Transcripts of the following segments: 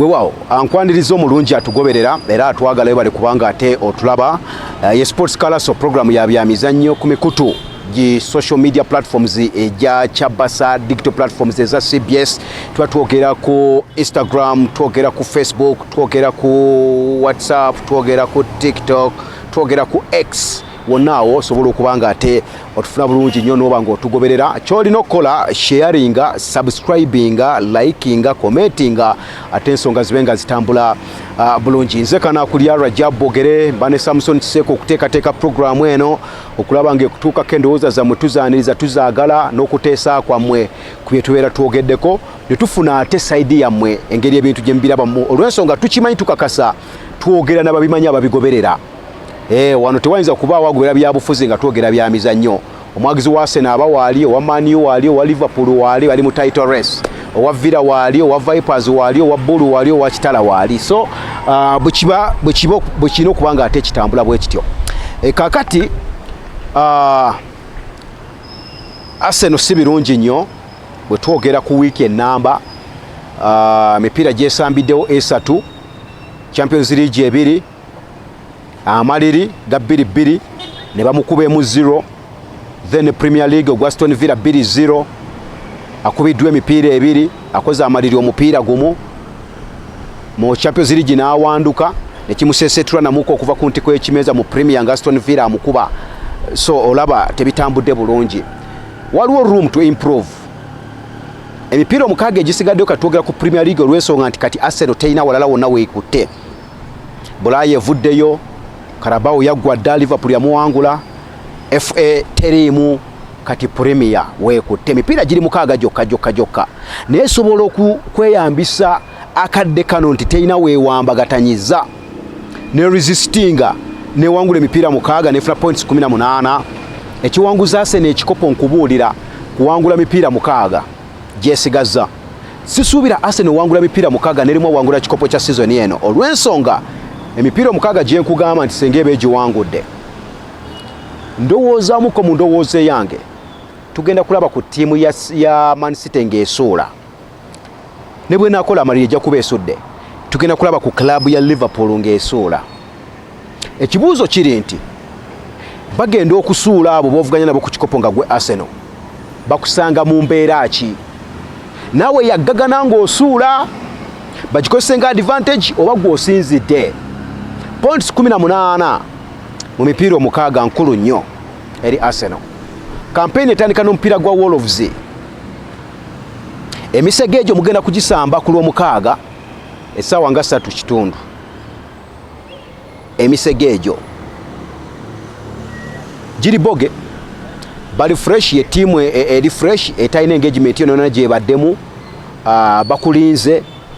wewawo ankwaniriza omulungi atugoberera era atwagala webale kubanga ate otulaba eh, ye sports calaso program ya byamizannyo ku mikutu gi social media platforms egya eh, chabasa digital platforms eza cbs tuba twogera ku instagram twogera ku facebook twogera ku whatsapp twogera ku tiktok twogera ku x wonna awo osobola okuba nga ate otufuna bulungi nnyo nooba nga otugoberera kyolina okukola sharinga subscribinga likinga commentinga ate ensonga zibe nga zitambula uh, bulungi nze kanakulya rajab bogere mba ne samuson kiseeko okuteekateeka puroguramu eno okulaba nga ekutuukako endowooza zammwe tuzaaniriza tuzaagala n'okuteesa kwammwe ku bye tubeera twogeddeko ne tufuna ate sayidi yammwe engeri ebintu gye mubirabamu olw'ensonga tukimanyi tukakasa twogera nababimanyi ababigoberera eh, wano tewayinza kubaawo agobera byabufuzi nga twogera bya mizannyo omwagizi wa sena aba waali owa maniu waali owa liverpool waali ali mu title race owa villa waali owa vipers waali owa bulu waali owa kitala waali so uh, bwekiba bwekirina okuba nga ate kitambula bwe kityo eh, kakati uh, aseno si birungi nnyo Bwe twogera ku wiiki ennamba, ah, emipiira uh, gyesambiddewo esatu, Champions League ebiri, amaliri ga bbiri bbiri ne bamukuba emu zero, then Premier League ogwa Aston Villa bbiri zero, akubiddwa emipiira ebiri, akoze amaliri omupiira gumu mu Champions League n'awanduka ne kimuseeseetula namuka okuva ku ntiko y'ekimeeza mu Premier nga Aston Villa amukuba, so olaba tebitambudde bulungi. waliwo room to improve emipiira omukaaga egisigaddeyo kati twogera ku premier league olw'ensonga nti kati arsenal terina walala wonna weekutte bulaaya evuddeyo karabawo yaggwa dda liverpool yamuwangula fa teriimu kati premier weekutte emipiira giri mukaaga gyokka gyokka gyokka naye esobola okweyambisa akadde kano nti terina weewambagatanyiza ne resistinga newangula emipiira mukaaga nefuna points 18 ekiwanguza asena ekikopo nkubuulira kuwangula mipiira mukaaga gyesigazza sisuubira asena owangula mipiira mukaaga nerimu owangula kikopo kya sizoni eno olw'ensonga emipiira omukaaga gyenkugamba nti senga eba egiwangudde ndowoozamuko mu ndowooza eyange tugenda kulaba ku ttiimu ya, ya mansite ng'esuula ne bwenakola amaliri ejja kuba esudde tugenda kulaba ku club ya liverpool ng'esuula ekibuuzo kiri nti bagenda okusuula abo bovuganya nabo ku kikopo nga gwe arsenal bakusanga mu mbeera ki naawe yaggagana ng'osuula bagikozese nga advantage oba gwe osinzidde points 18 mu mipiira omukaaga nkulu nnyo eri arsenal kampeyini etandika n'omupiira gwa wolves emisege egyo mugenda kugisamba ku lwomukaaga essaawa nga satu kitundu emisege egyo giri boge bali fresh ye tiimu e, e, eri fresh etalina engagement yonona gyebaddemu ah, bakulinze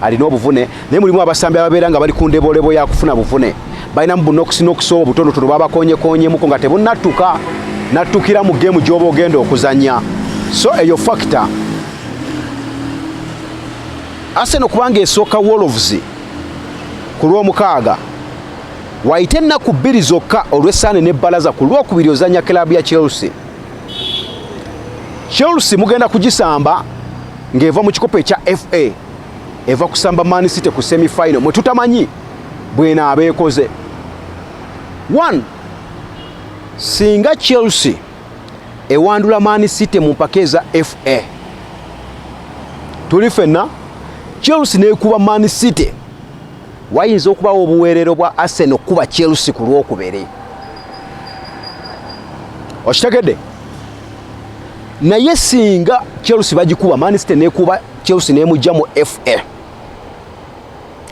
alina obuvune naye mulimu abasambi ababeera nga bali ku ndebolebo ya kufuna buvune balinamu bunokisi nokisi owo butonotono babakonyekonyemuko nga tebunattuka nattukira mu geemu gy'oba ogenda okuzanya so eyo fakita aseno kubanga esooka wolves ku lw'omukaaga waite ennaku bbiri zokka olw'essaane n'ebbalaza ku lwokubiri ozanya kiraabu ya chelsea chelsea mugenda kugisamba ng'eva mu kikopo ekya FA eva kusamba Man City ku semi final mwe tutamanyi bwena abeekoze one singa Chelsea ewandula Man City mu mpaka eza FA tuli fenna Chelsea neekuba Man City wayinza okubawo obuweerero bwa Arsenal okukuba Chelsea ku lwokubiri okitegedde naye singa chelsea bagikuba manisite nekuba chelsea nemujja mu fa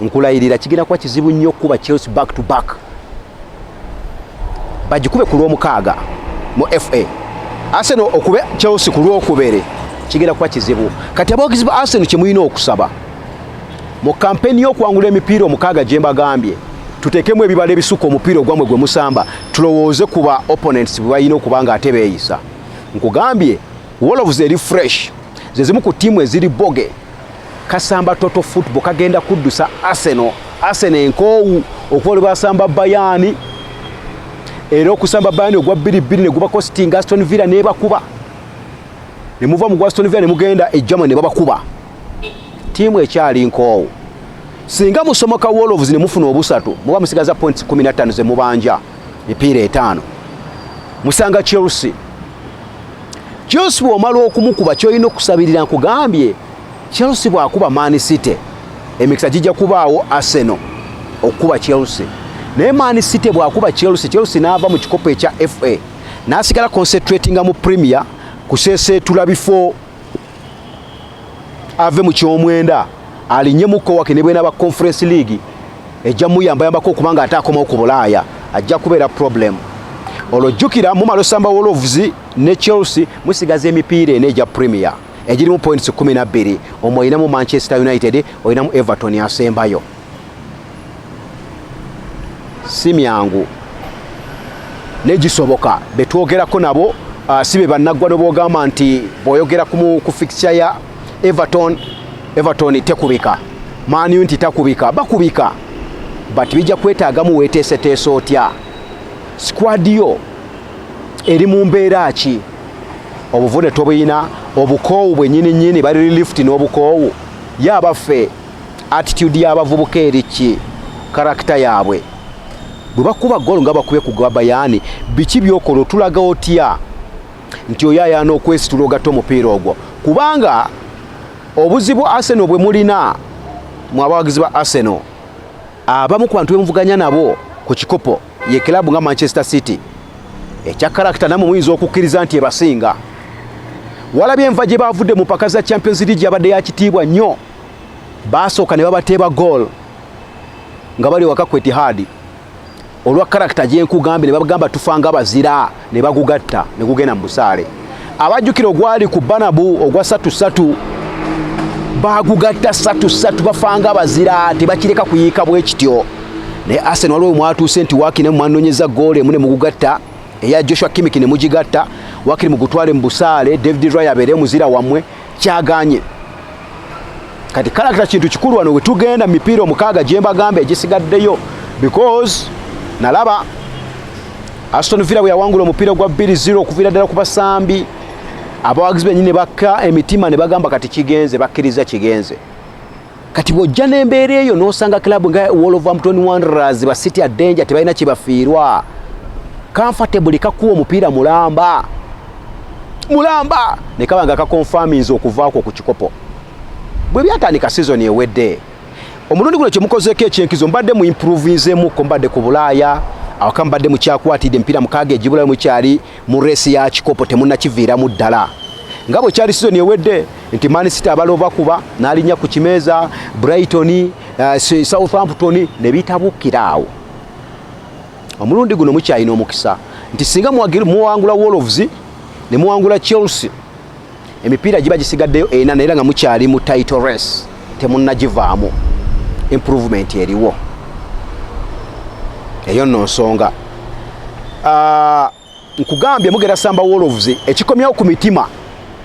nkulayirira kigenda kuba kizibu nnyo okukuba chelsea back to back bagikube ku lwomukaaga mu fa arsenal okube chelsea ku lwokubere kigenda kuba kizibu kati abogezi ba arsenal kyemulina okusaba Mu kampeni y'okwangula emipiira omukaaga gye mbagambye tuteekemu ebibala ebisukka omupiira ogwamwe gwe musamba tulowooze ku ba opponents bwe balina okuba nga ate beeyisa nkugambye wolves eri fresh ze zimu ku ttiimu eziri boge kasamba toto football kagenda kuddusa arsenal arsenal enkoowu okuba lwe basamba bayaani era okusamba bayani ogwa bbiri bbiri negubako sting aston villa nebakuba nemuva mu gwa aston villa nemugenda e german nebabakuba tiimu ekyali nkoowu singa musomoka wolves ne mufuna obusatu muba musigaza points 15 ze mubanja mipiira etaano musanga chelsea chelsea bwomala okumukuba kyolina okusabirira nkugambye chelsea bwakuba man city emikisa gijja kubaawo arsenal okukuba chelsea naye man city bwakuba chelsea chelsea naava mu kikopo ekya fa nasigala concentratinga mu premier kuseeseetula bifo ave mu kyomwenda alinye mukowake ne bwenaba conference league ejja muyambayambako okubanga ate akomawo ku bulaaya ajja kubeera problem olwo jjukira mumala osamba wolves ne chelsea musigaza emipiira ena egya premier egirimu points 12 omwo olinamu manchester united olinamu everton asembayo si myangu naye gisoboka betwogerako nabo uh, si be bannaggwa nobwogamba nti bwoyogera ku fixture ya everton everton tekubika maaniu nti takubika bakubika but bijja kwetaagamu weeteeseteesa otya sikwadi yo eri mu mbeera ki obuvune tobuyina obukoowu bwenyini nyini bali relift n'obukoowu ye abaffe attitude y'abavubuka eri ki karakita yaabwe bwe bakuba golo nga bakubye ku gwa bayani biki byokola otulaga otya nti oyo ayaana okwesitula ogatta omupiira ogwo kubanga obuzibu arsenal bwe mulina mu abawagizi ba arsenal abamu ku bantu bemuvuganya nabo ku kikopo ye kilabu nga manchester city ekya karakita namwe muyinza okukkiriza nti ebasinga walabye enva gye baavudde mu mpaka za champions league yabadde yakitiibwa nnyo baasooka ne babateeba goal nga bali waka ku etihadi olwa karakita gyenkugambye ne bagamba tufa nga bazira ne bagugatta ne gugenda mu busaale abajjukira ogwali ku banabu ogwa satu satu bagugatta satu satu bafanga bazira tebakireka kuyiika bwe kityo naye arsenal waliwo mwatuuse nti waakiri ne mwanonyeza goolo emu ne mugugatta eya joshua kimiki ne mugigatta wakiri mugutwale mu busaale david ray abeere muzira wammwe kyaganye kati kalakita kintu kikulu wano wetugenda mipiira omukaaga gyembagamba egisigaddeyo because nalaba aston villa bwe yawangula omupiira gwa 20 okuviira ddala ku basambi abawagizi benyini ne bakka emitima ne bagamba kati kigenze bakkiriza kigenze kati bw'ojja n'embeera eyo n'osanga club nga wolverhampton wanderers ba city adenja tebalina kyebafiirwa comfortably kakuwa omupiira mulamba mulamba ne kaba nga kakonfaminza okuvaako ku kikopo bwe byatandika sizoni ewedde omulundi guno kyemukozeeko ekyenkizo mbadde mu improvinzemukko mbadde ku bulaaya awaka mbadde mukyakwatidde emipiira mukaaga egibulayo mukyali mu reesi ya kikopo temunakiviiramu ddala nga bwe kyali sizoni ewedde nti Man City abalooba kuba n'alinnya ku kimeeza Brighton uh, Southampton ne bitabukira awo omulundi guno mukyalina omukisa nti singa muwangula Wolves ne muwangula Chelsea emipiira giba gisigaddeyo ena naye nga mukyali mu title race temunnagivaamu improvement eriwo eyo nno nsonga ah, nkugambye mugenda samba wolves ekikomyawo ku mitima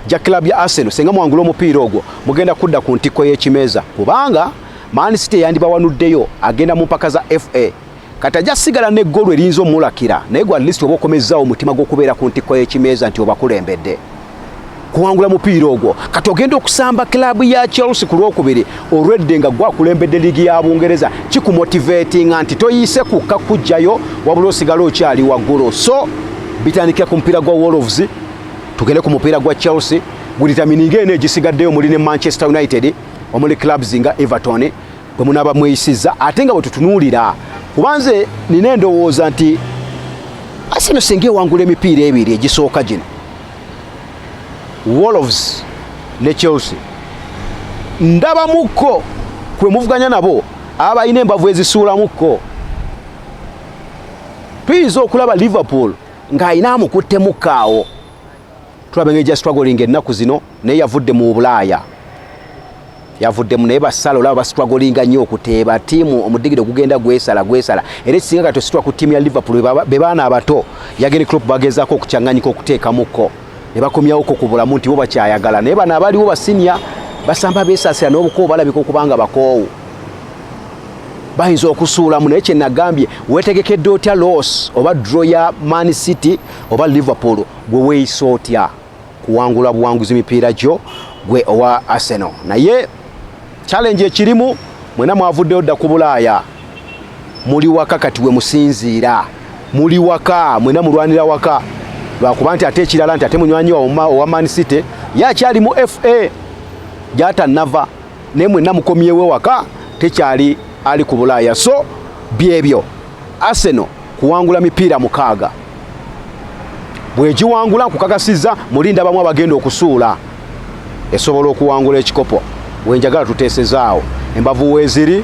gya club ya arsenal senga mwangula omupiira ogwo mugenda kudda ku ntikko y'ekimeeza kubanga manisiti eyandibawanuddeyo agenda mu mpaka za fa kati ajja sigala ne golu eriyinza omulakira naye gwa list oba okomezzawo omutima gw'okubeera ku ntikko y'ekimeeza nti obakulembedde kuwangula mupiira ogwo kati ogenda okusamba kilaabu ya chelsea ku lwokubiri olwedde nga gwakulembedde liigi ya bungereza kikumotivatinga nti toyiise kukka kujjayo wabula osigala okyali waggulu so bitandikira ku mupiira gwa wolves tugende ku mupiira gwa chelsea gulitamininga eno egisigaddeyo omuli ne manchester united omuli clubs nga everton bwe munaaba mweyisizza ate nga bwe tutunuulira kuba nze nina endowooza nti asino singa ewangula emipiira ebiri egisooka gino wolves ne chelsea ndabamukko kwe muvuganya nabo aba balina embavu ezisuulamukko tuyinza okulaba liverpool ng'alina amukutte mukkaawo tulaba engeri gya struggling ennaku zino naye yavudde mu bulaaya yavuddemu naye basala olaba bastrugglinga nnyo okuteeba tiimu omudigiro gugenda gwesala gwesala era ekisinga kati ositwa ku tiimu ya liverpool be baana abato yageni crop bagezaako okukyanganyika okuteekamuko ne bakomyawoko ku bulamu nti bo bakyayagala naye bano abaliwo basinia basamba beesasira n'obukoowu balabika okubanga bakoowu bayinza okusuulamu naye kyenagambye wetegekedde otya loss oba dro ya man city oba liverpool Gwe weeyisa otya kuwangula buwanguzi mipiira gyo gwe owa Arsenal? Naye challenge ekirimu mwena mwavuddeyo dda ku Bulaaya, muli waka kati we musinziira, muli waka mwena mulwanira waka lwakuba nti ate ekirala nti ate munywanyi owa Man City ye akyali mu FA gyatannava naye mwena mukomyewo ewaka tekyali ali ku Bulaaya so byebyo. Arsenal kuwangula mipiira mukaaga bwegiwangula nkukakasizza mulinda bamu abagenda okusuula esobola okuwangula ekikopo wenjagala tutesezaawo embavu weziri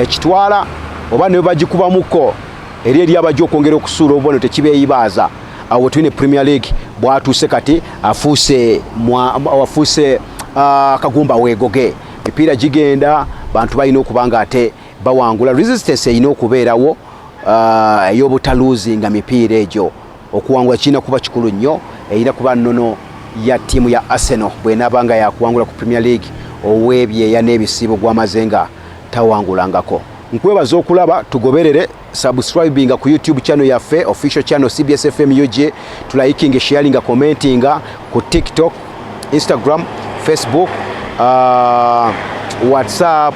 ekitwala oba ne bagikubamuko eri eri abajja okwongera okusuula obubone tekibeeyibaaza awo wetulina premier league bwatuuse kati afuuse afuuse ah, kagumba weegoge mipiira gigenda bantu balina okuba nga ate bawangula resistance erina okubeerawo uh, ey'obutaluuzinga mipiira egyo okuwangula kirina kuba kikulu nnyo erina kuba nnono ya ttiimu ya arsenal bwenaaba nga yakuwangula ku premier league ow'ebyeya n'ebisiibo gwamaze nga tawangulangako nkwebaza okulaba tugoberere subscribinga ku youtube channel yaffe official channel cbs fm ug tulayikinga sharinga commentinga ku tiktok instagram facebook uh, whatsapp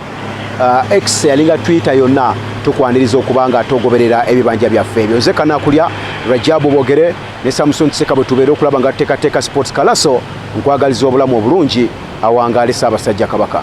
uh, x yalinga twitter yonna tukwaniriza okuba nga togoberera ebibanja byaffe ebyo nze kanakulya rajabu bogere ne samuson kiseka bwe tubeera okulaba nga tuteekateeka sports kalaso nkwagaliza obulamu obulungi awangaale saabasajja kabaka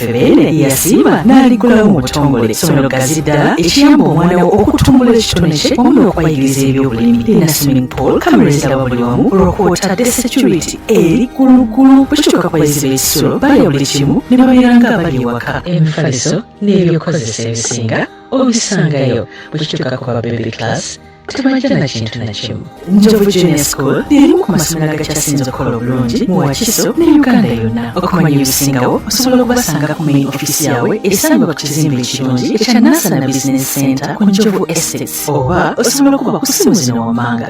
Beene yasiima n'aliggulawo mu butongole essomero ggazi ddala ekiyamba omwana wo okutumbula ekitone kye wamu n'okubayigiriza ebyobulimi lina swimming pool kamera eziraba buli wamu olwokwotadde security eri kulugulu bukituuka ku bayizi b'ekisulo balya buli kimu ne babeera nga abali ewaka emifaliso n'ebyokukozesa ebisinga obisangayo bukituuka ku ba baby class tebajja na kintu na kimu njovu junior school lirimu ku masomero agakyasinze okukola obulungi mu wakiso ne uganda yonna okumanya ebisingawo osobola okubasanga ku main offiisi yaabwe esangibwa ku kizimbe ekirungi ekya nasana business center ku njovu estates oba osobola okuba ku simu zino wammanga